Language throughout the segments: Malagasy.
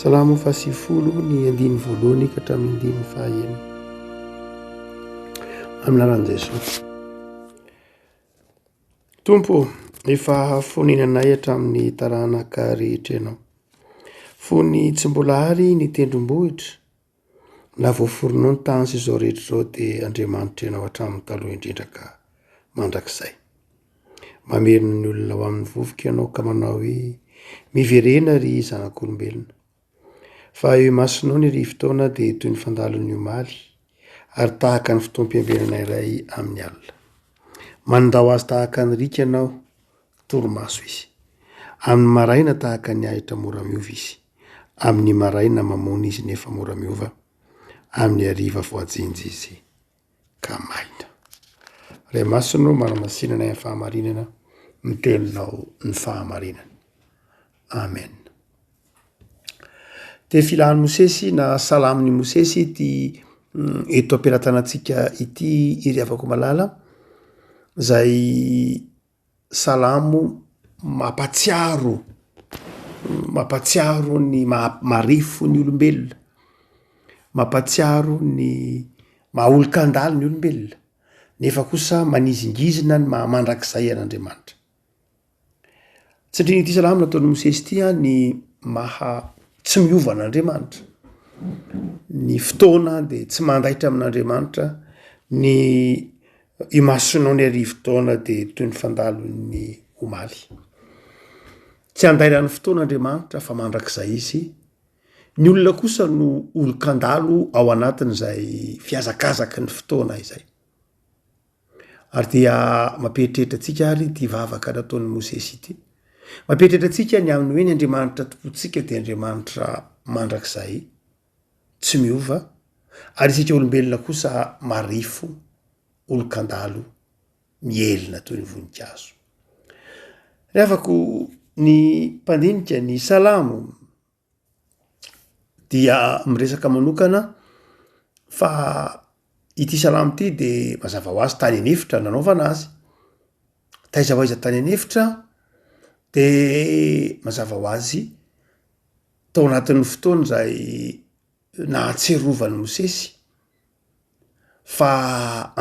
Salamo fahasivifolo ny andininy voalohany ka hatramin'ny andininy fahaenina amin'ny lalan'i Jesosy. Tompo, efa hafonena anay hatramin'ny taranaka rehetra ianao. Fony tsy mbola ary ny tendrombohitra Na voaforonao ny tany sy izao rehetra izao dia Andriamanitra ianao hatramin'ny taloha indrindra ka mandrakizay. Mamerina ny olona ho amin'ny vovoka ianao ka manao hoe, miverena ry zanak'olombelona. Fa eo imasonao ny rivotaona dia toy ny fandalon'ny omaly, ary tahaka ny fotoam-piambenana iray amin'ny alina. Manindao azy tahaka ny riaka ianao, Torimaso izy. Amin'ny maraina tahaka ny ahitra mora miova izy. Amin'ny maraina mamona izy nefa mora miova. Amin'ny hariva voajinja izy ka maina. Ray Masina ô manamasinana ny fahamarinana ny teninao ny fahamarinana. Amen. Dia filan'i Mosesy na salamin'i Mosesy ity mm, eto am-pelatanantsika ity iry havako malala izay Salamo mampatsiaro mampatsiaro ny maha marefo ny olombelona, mampatsiaro ny maha olon-kandalo ny olombelona nefa kosa manizingizina ny maha mandrakizay an'Andriamanitra. Tsy andrin'ity salamo nataon'i Mosesy ity an ny maha tsy miova an'Andriamanitra, ny fotoana dia tsy mandaitra amin'Andriamanitra, ny Imasonao ny arivo-taona dia toy ny fandalon'ny omaly. Tsy andairan'ny fotoana Andriamanitra fa mandrakizay izy. Ny olona kosa no olon-kandalo ao anatin'izay fihazakazaky ny fotoana izay. Ary dia mampieritreritra antsika ary ity vavaka nataon'i Mosesy ity. Mampieritreritra antsika ny amin'ny hoe ny Andriamanitra tompontsika dia Andriamanitra mandrakizay. tsy miova ary isika olombelona kosa marefo, olon-kandalo mihelina toy ny voninkazo. Rehafako ny mpandinika ny Salamo dia miresaka manokana fa ity Salamo ity de mazava ho azy tany an'efitra nanaovana azy. Taiza ho aiza tany an'efitra de mazava ho azy Tao anatin'ny fotoana izay nahatsiarovan'i Mosesy fa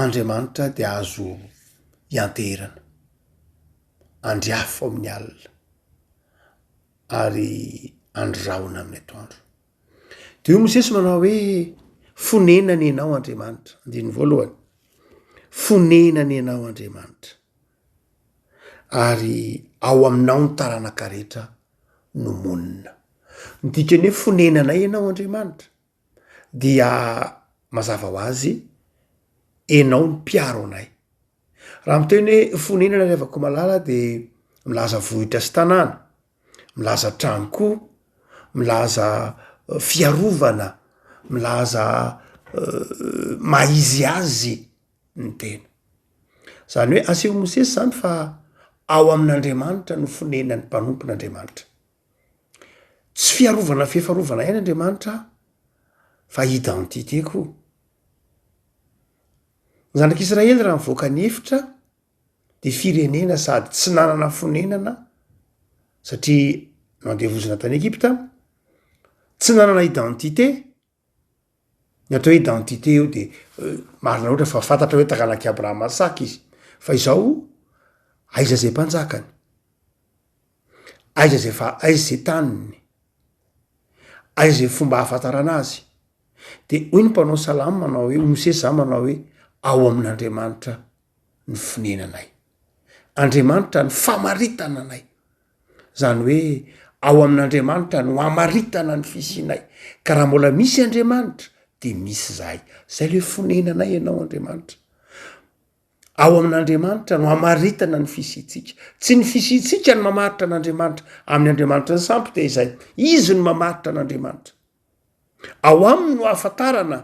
Andriamanitra dia azo ianteherana, andry afo amin'ny alina ary andry rahona amin'ny atoandro. Dia hoy Mosesy manao hoe, fonenana ianao Andriamanitra, andininy voalohany, fonenana ianao Andriamanitra. Ary ao Aminao ny taranaka rehetra no monina. Midika ny hoe fonenanay Ianao Andriamanitra. Dia mazava ho azy, Ianao no mpiaro anay. Raha miteny hoe fonenana ry havako malala dia milaza vohitra sy tanàna, milaza trano koa, milaza fiarovana, milaza maha izy azy ny tena. Izany hoe aseho Mosesy izany fa ao amin'Andriamanitra no fonenan'ny mpanompon'Andriamanitra. Tsy fiarovana fiefarovana ihany Andriamanitra fa identité koa. Ny zanak'Israely raha nivoaka ny efitra dia firenena sady tsy nanana fonenana satria nandevozina tany Egypta, tsy nanana identité. Ny atao hoe identité io de marina loatra fa fantatra hoe taranak'i Abrahama Isaka izy fa izao aiza zay mpanjakany? Aiza zay fa- aiza zay taniny? Aiza zay fomba ahafantarana azy? De hoy ny mpanao salamo manao hoe Mosesy zany manao hoe ao amin'Andriamanitra ny fonenanay. Andriamanitra ny famaritana anay. Izany hoe ao amin'Andriamanitra no amaritana ny fisianay, ka raha mbola misy Andriamanitra dia misy izahay. Izay ilay fonenanay ianao Andriamanitra. Ao amin'Andriamanitra no amaritana ny fisiantsika. Tsy ny fisiantsika no mamaritra an'Andriamanitra amin'ny Andriamanitra ny sampy dia izay. Izy no mamaritra an'Andriamanitra. Ao aminy no ahafantarana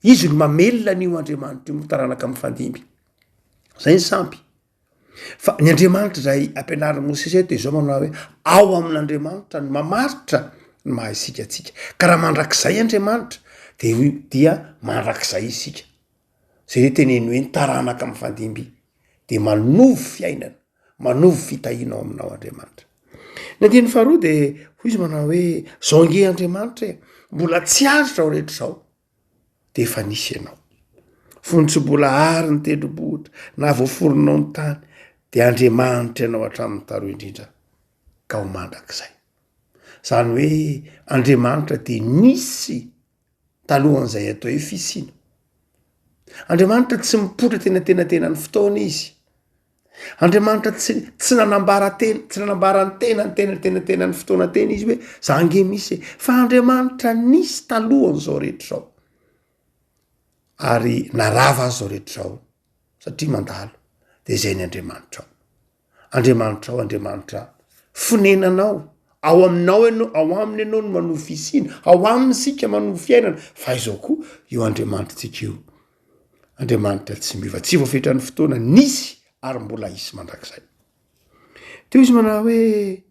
Izy no mamelona an'io Andriamanitra io ny taranaka mifandimby. Izay ny sampy. Fa ny Andriamanitra izay ampianarin'i Mosesy eto dia izao manao hoe ao amin'Andriamanitra ny mamaritra ny maha isika antsika. Ka raha mandrakizay Andriamanitra dia hoy dia mandrakizay isika. Izay hoe teneno hoe ny taranaka mifandimby dia manovo fiainana. Manovo fitahiana ao aminao Andriamanitra. Ny andininy faharoa dia hoy izy manao hoe zao ange Andriamanitra e, mbola tsy azo zao rehetra zao dia efa nisy ianao. Fony tsy mbola ary ny tendrombohitra na voaforonao ny tany dia Andriamanitra ianao hatramin'ny taloha indrindra ka ho mandrakizay. Zany hoe Andriamanitra dia nisy talohan'izay atao hoe fisiana. Andriamanitra tsy mipoitra teny antenatenan'ny fotoana izy. Andriamanitra tsy tsy nanambara tena tsy nanambara ny tena ny tena tena tena ny fotoana tena izy hoe za nge misy fa Andriamanitra nisy talohan'izao rehetra izao ary narava azy zao rehetra izao satria mandalo de zay ny Andriamanitra ao Andriamanitra ao Andriamanitra fonenanao ao aminao ianao ao aminy ianao no manohy fisiana ao aminy isika manohy fiainana fa izao koa io Andriamanitra antsika io Andriamanitra tsy miova, tsy voafetra ny fotoana, nisy ary mbola hisy mandrakizay. Teo izy manao hoe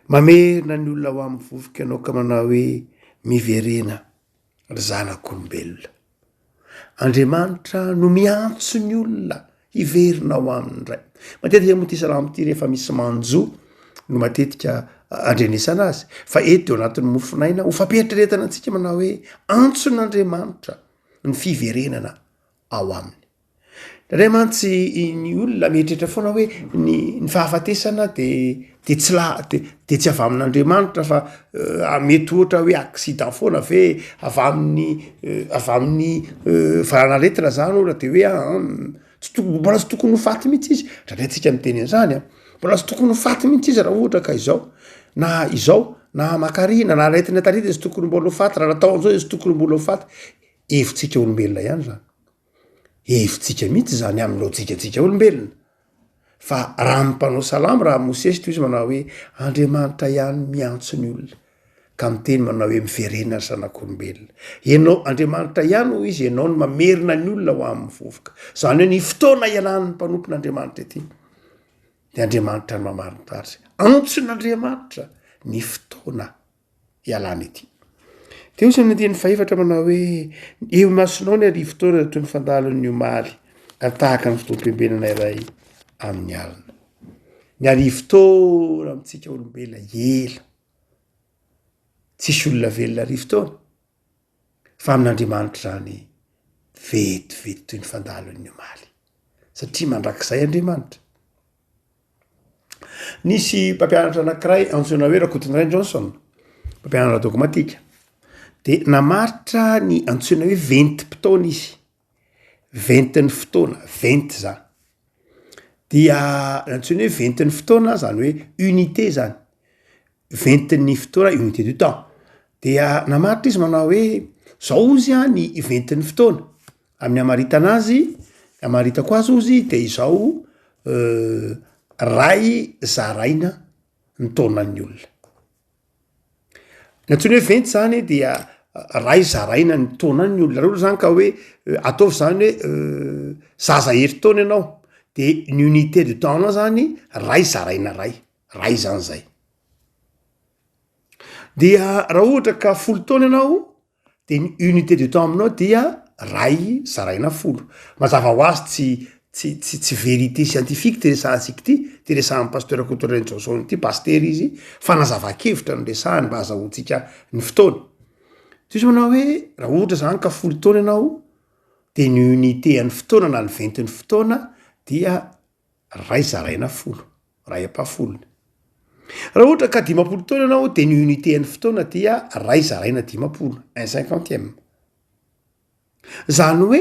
mamerina ny olona ho amin'ny vovoka ianao ka manao hoe miverena ry zanak'olombelona. Andriamanitra no miantso ny olona hiverina ao aminy indray. Matetika moa ity salamo ity rehefa misy manjo no matetika andrenesana azy fa eto dia ao anatin'ny mofon'aina ho fampiheritreretana antsika manao hoe antson'Andriamanitra ny fiverenana ao aminy. Dray mantsy ny olona mieritreritra foana hoe ny ny fahafatesana dia de tsy la- de de tsy avy amin'Andriamanitra fa mety ohatra hoe accident foana ve avy amin'ny avy amin'ny valan'aretina zany ohatra de hoe aa tsy to- mbola tsy tokony ho faty mihitsy izy ndra ndray tsika miteny an'zany a, mbola tsy tokony ho faty mihitsy izy raha ohatra ka izao na izao na aman-karena na aretina taretina izy tokony mbola ho faty raha natao an'zao izy tokony mbola ho faty, hevitsika olombelona ihany zany. hevitsika mihitsy izany amin'ny lojikantsika olombelona. Fa raha ny mpanao salamo raha Mosesy toy izy manao hoe Andriamanitra ihany miantso ny olona ka miteny manao hoe miverena ry zanak'olombelona. Ianao Andriamanitra ihany hoy izy ianao no mamerina ny olona ho amin'ny vovoka. Izany hoe ny fotoana hialan'ny mpanompon'Andriamanitra ity dia Andriamanitra no mamarintarika. Antson'Andriamanitra ny fotoana hialana ety. Dia hoy ny andininy fahefatra manao hoe eo imasonao ny arivo taona toy ny fandahalon'ny omaly ary tahaka ny fotoam-piombenana iray amin'ny alina. Ny arivo taona amintsika olombelona ela. Tsisy olona velona arivo taona. fa amin'Andriamanitra izany vetivety toy ny fandahalan'ny omaly, satria mandrakizay Andriamanitra. Nisy mpampianatra anankiray antsoina hoe Rakotondrainy Johnson, mpampianatra dôgmatika, dia namaritra ny antsoina hoe ventim-potoana izy. ventin'ny fotoana, venty zany. Dia antsoina hoe ventin'ny fotoana zany hoe unité zany, ventin'ny fotoana, unité du temps. Dia namaritra izy manao hoe zao hozy an ny ventin'ny fotoana, amin'ny hamaritana azy, ny hamaritako azy hozy de izao ray zaraina ny taonan'ny olona. Ny antsoina hoe venty zany dia ray zaraina ny taona any ny olona roa zany ka hoe ataovy zany hoe zaza herintaona ianao de ny unité de temps nao zany ray zaraina ray, ray zany zay. Dia raha ohatra ka folo taona ianao De ny unité de temps aminao dia ray zaraina folo. Mazava ho azy tsy tsy tsy tsy vérité scientifique ty resahantsika ity, ty resahan'i Pasteur Koto Rainijaonjaona ity, Pasitera izy, fanazavan-kevitra no resahany mba hazahoantsika ny fotoana. Diso manao hoe raha ohatra zany ka folo taona ianao de ny unité an'ny fotoana na ny ventin'ny fotoana dia Ray zaraina folo. Ray ampahafolony. Raha ohatra ka dimampolo taona ianao dia ny unité an'ny fotoana dia ray zaraina dimampolo, un cinquantième. Izany hoe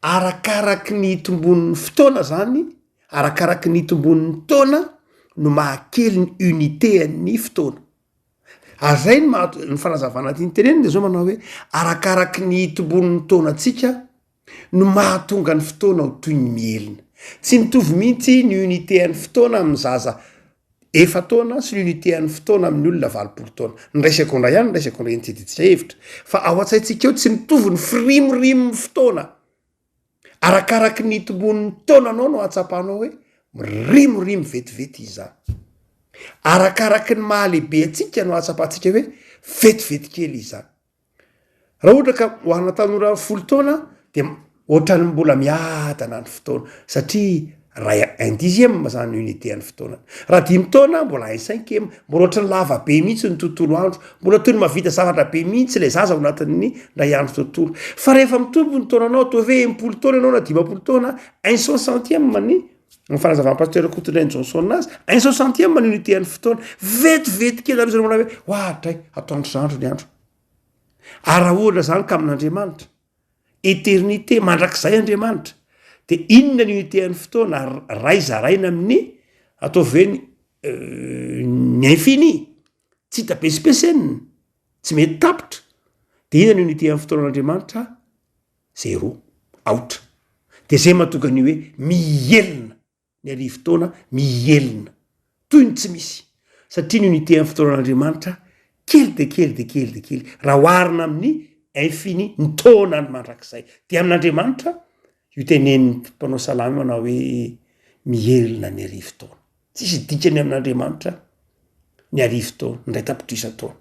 arakaraky ny itomboan'ny fotoana izany, arakaraky ny itomboan'ny taona no mahakely ny unité an'ny fotoana. Ary izay no maha- ny fanazavana tiany tenenina dia izao manao hoe arakaraky ny itomboan'ny taona antsika no mahatonga ny fotoana ho toy ny mihelina. Tsy mitovy mihitsy ny unité an'ny fotoana amin'ny zaza efa taona sy ny unité an'ny fotoana amin'ny olona valopolo taona. Ny ray segondra ihany ny ray segondra eny tsy adidintsika hevitra fa ao an-tsaintsika eo tsy mitovy ny firimorimon'ny fotoana. Arakaraky ny itomboan'ny taonanao no ahatsapanao hoe mirimorimo vetivety izy izany. Arakaraky ny maha-lehibe antsika no ahatsapantsika hoe vetivety kely izy izany. Raha ohatra ka ho ana tanora folo taona dia ohatran'ny mbola miadana ny fotoana satria ray un dixième zany unité an'ny fotoana. Raha dimy taona mbola un cinquième, mbola ohatran'ny lava be mihitsy ny tontolo andro, mbola toy ny mahavita zavatra be mihitsy ilay zaza ao anatin'ny indray andro tontolo. Fa rehefa mitombo ny taonanao, ataovy hoe enimpolo taona ianao na dimampolo taona, un cent centième ny. Ny fanazavan'ny Pasitera Kotondrainy Johnson azy, un soixantième ny unité an'ny fotoana, vetivety kely aloha izay manao hoe ho adray, atoandro zandry ny andro. Arahona izany ka amin'Andriamanitra. Eternité, mandrakizay Andriamanitra. Dia inona ny unité an'ny fotoana, ray zaraina amin'ny, ataovy hoe ny, euh, ny infini, tsy hita besipesenina, tsy mety tapitra. Dia inona ny unité an'ny fotoanan'Andriamanitra? zero, aotra. Dia izay mahatonga ny hoe mihelina ny arivo taona, mihelina toy ny tsy misy, satria ny unité amin'ny fotoanan'Andriamanitra kely dia kely dia kely dia kely raha oharina amin'ny infini, ny taonany mandrakizay. Dia amin'Andriamanitra io tenenin'ny mpanao salamo io manao hoe mihelina ny arivo taona. Tsisy dikany amin'Andriamanitra ny arivo taona, ny iray tapitrisa taona.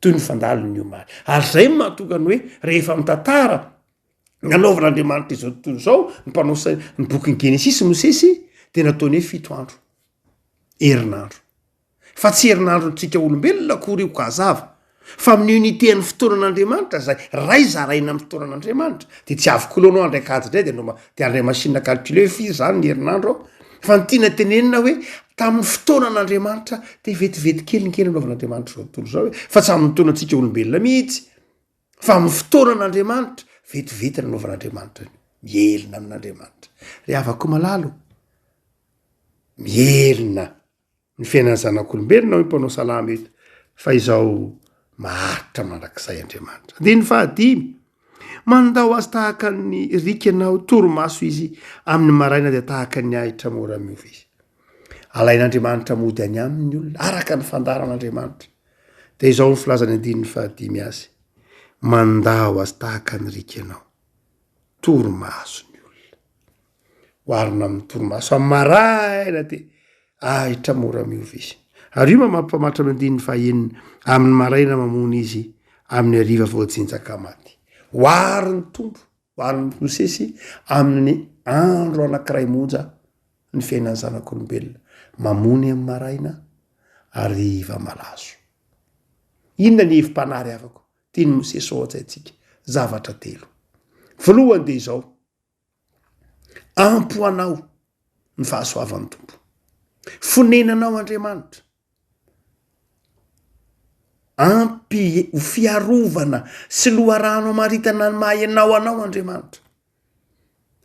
Toy ny fandalo ny omaly. Ary izay no mahatonga ny hoe rehefa mitantara ny nanaovan'Andriamanitra izao tontolo izao ny mpanao sai- ny bokin'ny Genesisy Mosesy dia nataony hoe fito andro, herinandro. fa tsy herinandrontsika olombelona akory io ka hazava fa amin'ny unité an'ny fotoanan'Andriamanitra izay ray zaraina amin'ny fotoanan'Andriamanitra dia tsy avy kolona ao andraika ady indray dia noma dia andray machine calculer hoe firy izany ny herinandro ao fa ny tiana tenenina hoe tamin'ny fotoanan'Andriamanitra dia vetivety kely ny kely anaovan'Andriamanitra izao tontolo izao hoe fa tsy amin'ny fotoanantsika olombelona mihitsy fa amin'ny fotoanan'Andriamanitra vetivety nanaovan'Andriamanitra ny mielina amin'Andriamanitra ry havako malalo mielina ny fiainan'ny zanak'olombelona hoy ny mpanao salamo eto fa izao maharitra mandrakizay Andriamanitra. Andininy fahadimy, mandao azy tahaka ny rikana ho torimaso izy amin'ny maraina dia tahaka ny ahitra mora miova izy. Alain'Andriamanitra mody any aminy ny olona araka ny fandaharan'Andriamanitra. Dia izao ny filazan'ny andininy fahadimy azy, mandao azy tahaka ny rikanao, torimaso ny olona. oharina amin'ny torimaso amin'ny maraina dia ahitra mora miova izy. Ary io mampamatra ny andininy fahenina, amin'ny maraina mamony izy, amin'ny hariva voajinjaka maty. Oary ny tompo, oary ny Mosesy amin'ny andro anankiray monja ny fiainan'ny zanak'olombelona, mamony amin'ny maraina, hariva malazo. Inona ny hevi-panary avako? Tian'i Mosesy ho an-tsaintsika zavatra telo. Voalohany dia izao, Ampy ho anao ny fahasoavan'ny Tompo. Fonenanao Andriamanitra. Ampy ho fiarovana sy loharano amaritana ny maha ianao anao Andriamanitra.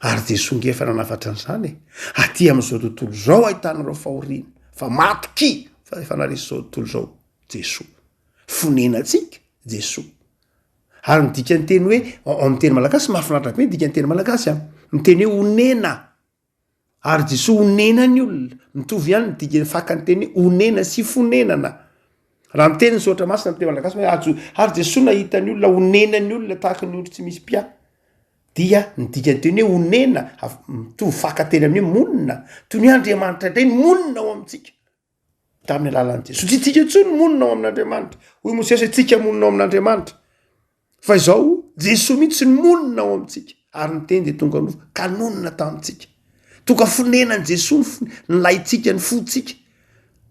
Ary dia songa efa nanafatra an'izany e. Aty amin'izao tontolo izao ahitanareo fahoriana, fa matokia fa efa naharesy izao tontolo izao Jesoa. Fonenantsika Jesoa. Ary ny dikanteny hoe ao amin'ny teny malagasy mahafinaritra be ny dikanteny malagasy a, ny teny hoe onena, ary Jesoa onena ny olona, mitovy ihany ny dika fakan'ny teny hoe onena sy fonenana, raha miteny ny soratra masina amin'ny teny malagasy hoe ajo- ary Jesoa nahita ny olona onena ny olona tahaka ny ondry tsy misy mpiahy, dia ny dikanteny hoe onena avy mitovy faka teny amin'ny hoe monina, toy ny hoe Andriamanitra indray no monina ao amintsika. tamin'ny alalan'i Jesoa. Tsy isika intsony monina ao amin'Andriamanitra. Hoy Mosesy, isika monina ao amin'Andriamanitra. Fa izao, Jesoa mihitsy ny monina ao amintsika. Ary ny teny dia tonga nofo, ka nonina tamintsika. Tonga fonenan'i Jesoa ny laintsika, ny fontsika.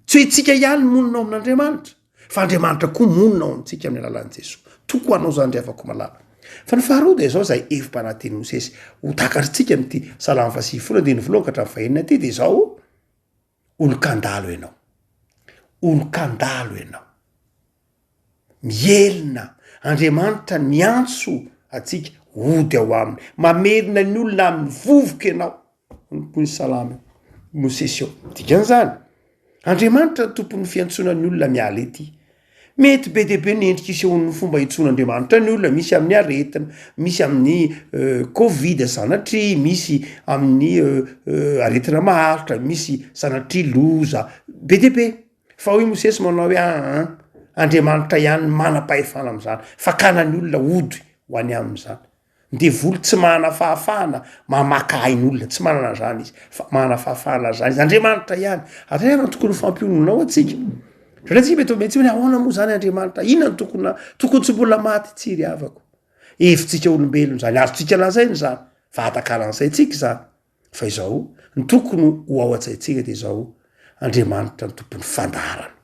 Tsy hoe isika ihany monina ao amin'Andriamanitra, fa Andriamanitra koa monina ao amintsika amin'ny alalan'i Jesoa. Toko anao izany ry havako malala. Fa ny faharoa dia izao izay hevi-panaten'i Mosesy, ho takatritsika amin'ity salamo fahasivifolo andininy voalohany ka hatramin'ny fahenina ity, dia izao, Olon-kandalo ianao, olon-kandalo ianao. Mihelina, Andriamanitra niantso antsika hody ao aminy. Mamerina ny olona amin'ny vovoka ianao, hoy ny salamo Mosesy eo. Dikan'izany, Andriamanitra no tompon'ny fiantsoana ny olona miala ety. Mety be dia be ny endrika isehoan'ny fomba hitsoan'Andriamanitra ny olona, misy amin'ny aretina, misy amin'ny covid sanatria, misy amin'ny aretina maharitra, misy sanatria loza, be dia be. Fa hoy Mosesy manao hoe aa, Andriamanitra ihany no manam-pahefana amin'izany, fakana ny olona hody ho any aminy izany. Devoly tsy manana fahafahana mamaka ain'olona, tsy manana an'izany izy, fa manana fahafahana an'izany izy, Andriamanitra ihany. Ary aiza no tokony ho fampiononao antsika? Satria antsika mety mietsi hoe ahoana moa izany Andriamanitra, inona no tokony na tokony tsy mbola maty tsy ry havako. Hevitsika olombelona izany, azontsika lazaina izany, fa atakaran'saintsika izany. Fa izao no tokony ho ao an-tsaintsika dia izao, Andriamanitra no tompon'ny fandaharana.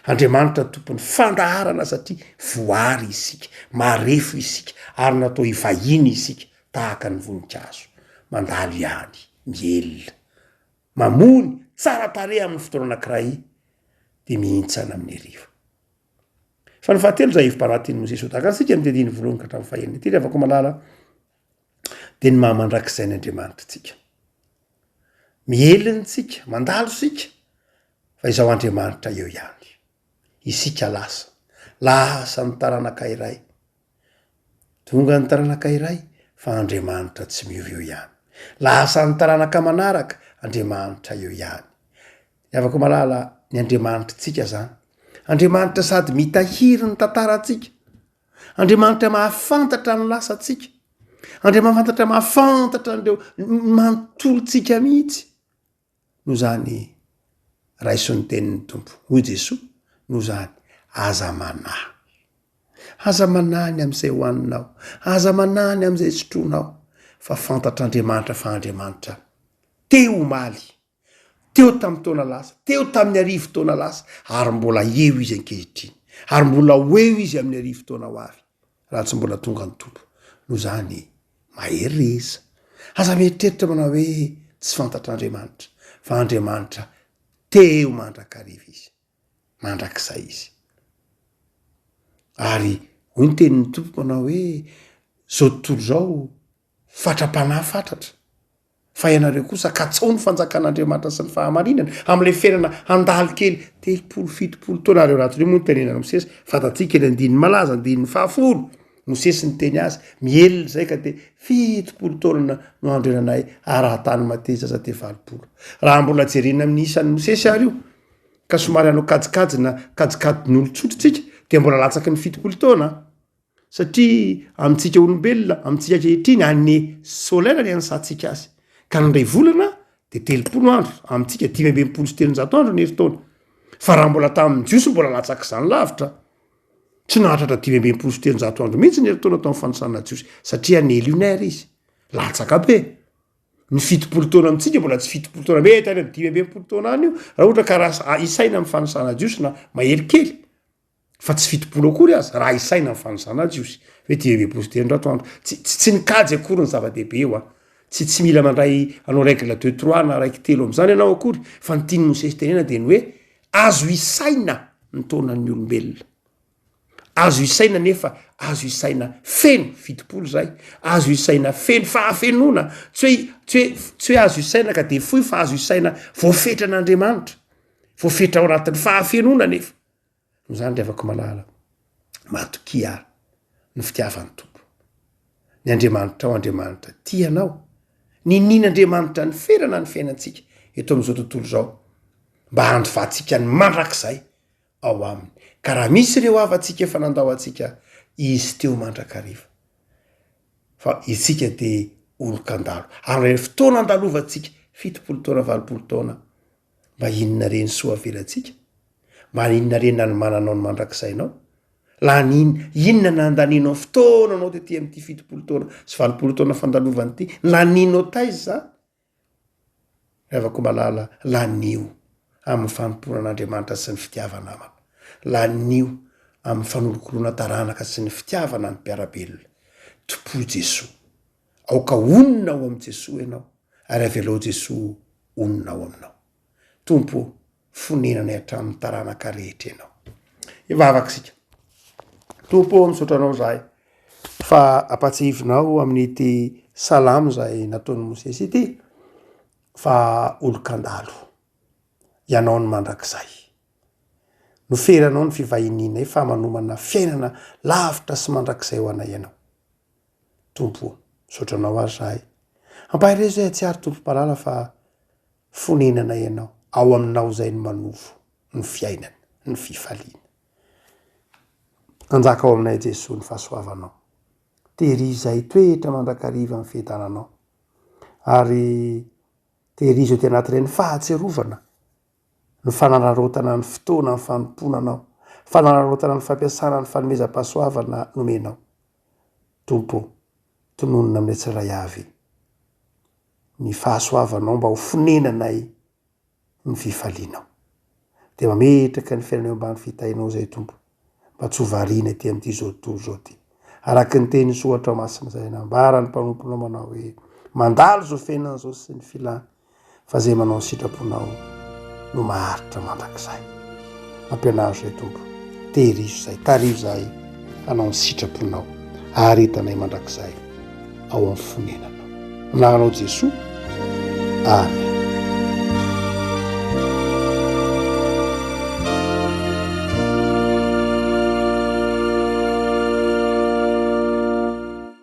Andriamanitra no tompon'ny fandaharana satria voary isika, marefo isika ary natao hivahiny isika tahaka ny voninkazo, mandalo ihany, mihelina, mamony, tsara tarehy amin'ny fotoana anankiray dia mihintsana amin'ny hariva. Fa ny fahatelo izay hevi-panahy tian'i Mosesy ho tahaka antsika, ny diadiany voalohany ka hatramin'ny fahenina. Ity ry havako malala, dia ny maha mandrakizay ny Andriamanitra antsika. Miheliny tsika, mandalo sika fa izaho Andriamanitra eo ihany. Isika lasa, lasa ny taranaka iray, tonga ny taranaka iray fa Andriamanitra tsy miova eo ihany. Lasa ny taranaka manaraka, Andriamanitra eo ihany. Ny avako malala ny Andriamanitra tsika zany. Andriamanitra sady mitahiry ny tantara antsika, Andriamanitra mahafantatra ny lasantsika. Andriamafantatra mahafantatra an'ireo manontolontsika mihitsy. Noho izany raiso ny tenin'ny Tompo. Hoy Jesoa, noho izany aza manahy. Aza manahy ny amin'izay hohaninao. Aza manahy ny amin'izay sotroinao fa fantatr'Andriamanitra fa Andriamanitra te omaly teo tamin'ny taona lasa, teo tamin'ny arivo taona lasa, ary mbola eo izy ankehitriny, ary mbola ho eo izy amin'ny arivo taona ho avy, raha tsy mbola tonga ny Tompo. Noho izany, mahery re iza? Aza mieritreritra manao hoe tsy fantatr'Andriamanitra, fa Andriamanitra teo mandrakariva izy, mandrakizay izy. Ary hoy ny tenin'ny Tompo manao hoe, izao tontolo izao, fatra-panahy fatratra, fa ianareo kosa katsao ny fanjakan'Andriamanitra sy ny fahamarinany, amin'ilay fiainana handalo kely telopolo fitopolo taona ary eo anatin'io moa no tenenan'i Mosesy, fantatsika eny andininy malaza andininy fahafolo, Mosesy niteny azy, mihelina izay ka dia fitopolo taona no andrenanay ary raha tany Mateza aza dia valopolo, raha mbola jerena amin'ny isan'i Mosesy ary io ka somary hanao kajikajina kajikajin'olon-tsotra isika dia mbola latsaky ny fitopolo taona an! Satria amintsika olombelona, amintsika ankehitriny, année solaire no ianasantsika azy. Ka ny iray volana dia telopolo andro, amintsika dimy amby enimpolo sy telonjato andro ny herintaona. Fa raha mbola tamin'ny Jiosy mbola latsak'izany lavitra. Tsy nahatratra dimy amby enimpolo sy telonjato andro mihitsy ny herintaona tao amin'ny fanisana jiosy, satria année lunaire izy. Latsaka be. Ny fitopolo taona amintsika mbola tsy fitopolo taona mety any amin'ny dimy amby enimpolo taona any io, raha ohatra ka raha isaina amin'ny fanisana jiosy na mahery kely. fa tsy fitopolo akory aza raha isaina ny fanosana ny jiosy hoe dimy ambin'ny folo sy telonjato andro tsy tsy tsy nikajy akory ny zava-dehibe eo a tsy tsy mila mandray anao règle deux trois na raiky telo am'zany ianao akory fa ny tian'i mosesy tenena dia ny hoe azo isaina ny taonan'ny olombelona azo isaina nefa azo isaina feno fitopolo zay azo isaina feno fa afenoana tsy hoe tsy hoe tsy hoe azo isaina ka dia fohy fa azo isaina voafetran'andriamanitra voafetra ao anatin'ny fahafenoana nefa Noho izany, ry havako malala, matokia àry ny fitiavan'ny Tompo. Ny Andriamanitrao, Andriamanitra tia anao. Ninian'Andriamanitra ny ferana ny fiainantsika eto amin'izao tontolo izao, mba handovatsika ny mandrakizay ao Aminy. Ka raha misy ireo havantsika efa nandao antsika, izy teo mandrakariva. Fa isika dia olon-kandalo. Ary amin'ilay fotoana andalovantsika, fitopolo taona, valopolo taona, Mba inona re ny soa avelantsika? Mba inona re ny nanomananao ny mandrakizainao? Lany inona nandanianao fotoana anao tety amin'ity fitopolo taona sy valopolo taona fandalovana ity? Laninao taiza izany? Ry havako malala, lanio amin'ny fanompoana an'Andriamanitra sy ny fitiava namana. Lanio amin'ny fanolokoloana taranaka sy ny fitiavana ny mpiara-belona. Tompoy Jesoa. Aoka honina ao amin'i Jesoa ianao ary avelao Jesoa honina ao aminao. Tompo ô, fonenanay hatramin'ny taranaka rehetra ianao. Hivavaka isika. Tompo ô, misaotra anao izahay fa ampatsiahivinao amin'ity salamo izay nataon'i Mosesy ity fa olon-kandalo ianao ny mandrakizay. Noferanao ny fivahinianay fa manomana fiainana lavitra sy mandrakizay ho anay ianao. Tompo o. Misaotra Anao ary zahay. Ampaherezo zahay hatsiaro Tompo malala fa fonenana Ianao. Ao Aminao izay no manovo ny fiainana, ny fifaliana. Hanjaka ao aminay Jesoa ny fahasoavanao. Tehirizo zahay hitoetra mandrakariva amin'ny fientananao ary tehirizo aty anatin'ireny fahatsiarovana. ny fanararaotana ny fotoana ny fanompoana anao, fanararaotana ny fampiasana ny fanomezam-pahasoavana nomenao. Tompo ô, tononina aminay tsirairay avy ny fahasoavanao mba ho fonenanay ny fifalianao. Dia mametraka ny fiainanay eo ambany fitahinao izay Tompo. mba tsy ho variana ety amin'ity zao tontolo izao ity. Araka ny tenin'i Soatra Masina izay nambara ny mpanompo namana hoe, Mandalo izao fiainana izao sy ny filany, fa izay manao ny sitraponao no maharitra mandrakizay. Ampianaro izay Tompo, tehirizo izay, tariho izay hanao ny sitraponao ary hitanay mandrakizay. ao amin'ny fonenana. Anaranao Jesoa. Amen.